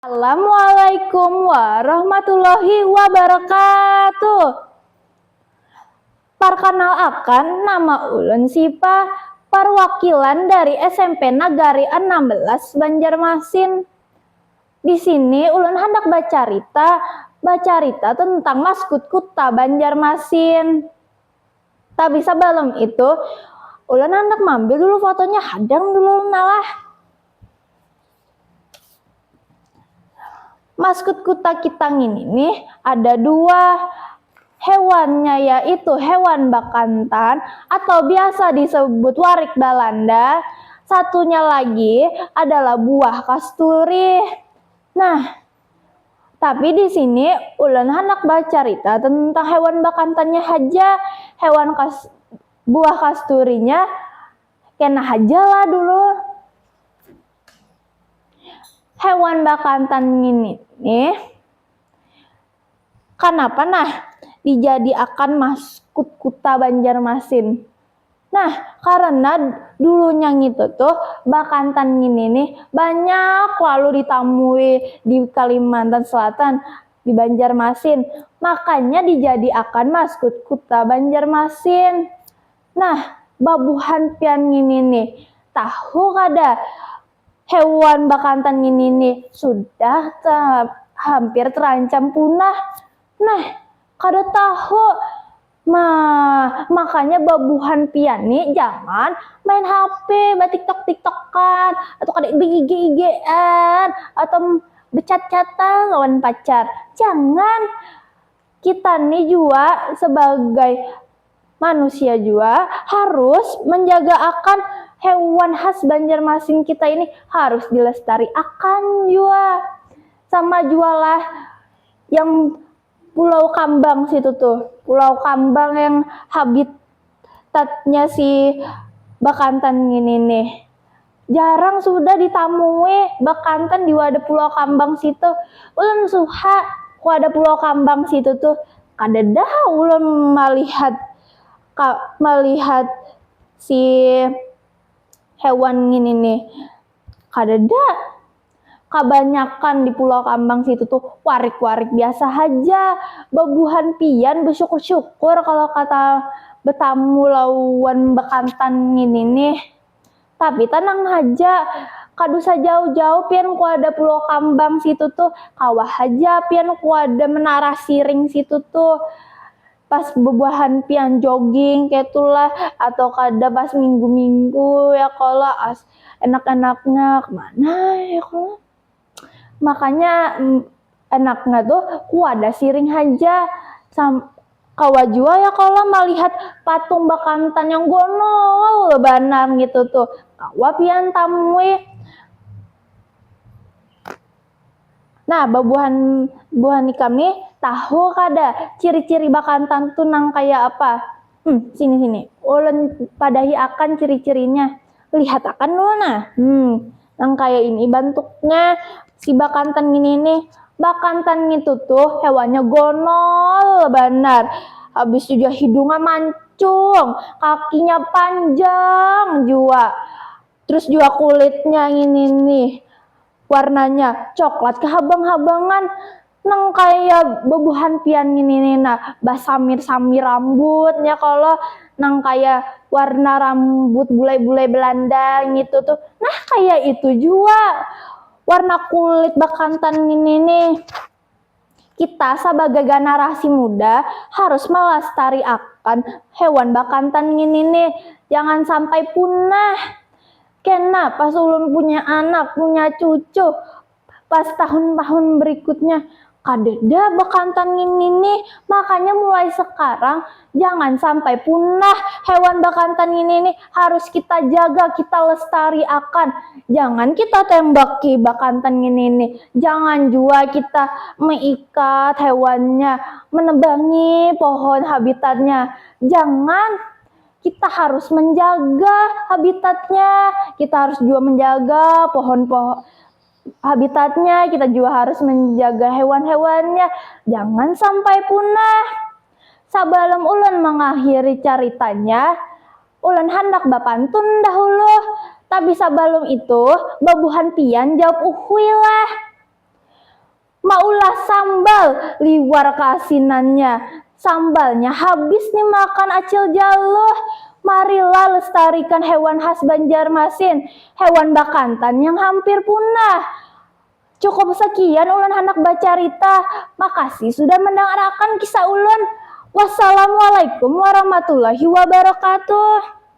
Assalamualaikum warahmatullahi wabarakatuh. Parkanal akan, nama ulun Sipa, parwakilan dari smp Nagari anam belas Banjarmasin. Di sini ulun handak bacarita, bacarita tentang maskut kuta Banjarmasin. Tapi sabalum itu, ulun handak mambil dulu fotonya hadang dulu ulun alah. Maskut kuta kita ngini nih ada dua hewannya yaitu hewan bakantan atau biasa disebut warik Balanda. Satunya lagi adalah buah kasturi. Nah, tapi di sini ulun hendak bercerita tentang hewan bakantannya haja. Hewan kas buah kasturinya Kena haja lah dulur. Hewan bakantan ini nih. Kanapa nah dijadiakan maskut kuta Banjarmasin? Nah, karena dulunya ngitu tuh bakantan ini nih banyak lalu ditamui di Kalimantan Selatan, di Banjarmasin. Makanya dijadiakan maskut kuta Banjarmasin. Nah, babuhan pian ngini nih, tahu kada hewan bakantan ngini nih sudah hampir terancam punah. Nah, kada tahu. Ma, makanya babuhan pian nih jangan main hape, batiktok-tiktokan, atau kada beige-igean, atau bechat-chatan lawan pacar. Jangan. Kita nih jua sebagai. manusia jua harus menjaga akan hewan khas Banjarmasin kita ini harus dilestari akan jua sama jualah yang pulau kambang situ tuh pulau kambang yang habitatnya si bakantan ini nih jarang sudah ditamui bekantan di wadah pulau kambang situ ulun suha wadah pulau kambang situ tuh kada dah ulun malihat malihat si hewan ngini nih kada dah kabanyakan di pulau kambang situ tuh warik warik biasa haja bebuhan pian besyukur syukur kalo kata betamu lawan bekantan ngini nih. Tapi tanang haja, kada usah jauh-jauh pian kuada pulau kambang situ tuh, kawa haja pian kuada menara siring situ tuh, pas bebuahan pian jogging kaitu lah, atau kada pas minggu-minggu ya kalo, as enak-enaknya kemana ya kalo. makanya enaknya tuh kuada siring haja sam kawa jua ya kalau malihat patung bakantan yang gonol banar gitu tuh kawa pian tamui nah babuhan buhan ikam nih tahu kada ciri-ciri bakantan tuh nang kaya apa. Hmm, sini-sini. Ulun padahi akan ciri-cirinya. Lihat akan dulu nah. Hmm, nang kaya ini bantuknya si bakantan ini nih. Bakantan itu tuh hewannya gonol banar. Habis itu juga hidungnya mancung, kakinya panjang jua. Terus juga kulitnya ini nih warnanya coklat kehabang-habangan. nang kaya bebuhan pian ini nih nah basamir-samir rambutnya kalau nang kaya warna rambut bulai-bulai Belanda ngitu tuh nah kaya itu jua warna kulit bakantan ini nih kita sabagai ganarasi muda harus malastari akan hewan bakantan ini nih jangan sampai punah kena pas ulun punya anak punya cucu Pas tahun-tahun berikutnya, kadeda bakantan ngini nih, makanya mulai sekarang jangan sampai punah hewan bakantan ngini nih, harus kita jaga, kita lestari akan, jangan kita tembaki bakantan ngini nih, jangan jua kita meikat hewannya, menebangi pohon habitatnya, jangan. kita harus menjaga habitatnya, kita harus juga menjaga pohon-pohon habitatnya, kita juga harus menjaga hewan-hewannya. Jangan sampai punah. Sabalum ulun mengakhiri caritanya, ulun handak bapantun dahulu. Tapi sabalum itu, babuhan pian jawab uhuilah. Maulah sambal, liwar kaasinannya. Sambalnya habis nih makan Acil Jaluh. Marilah lestarikan hewan khas Banjarmasin, hewan bakantan yang hampir punah. Cukup sekian ulun handak bacarita. Makasih sudah mandangarakan kisah ulun. Wassalamualaikum warahmatullahi wabarakatuh.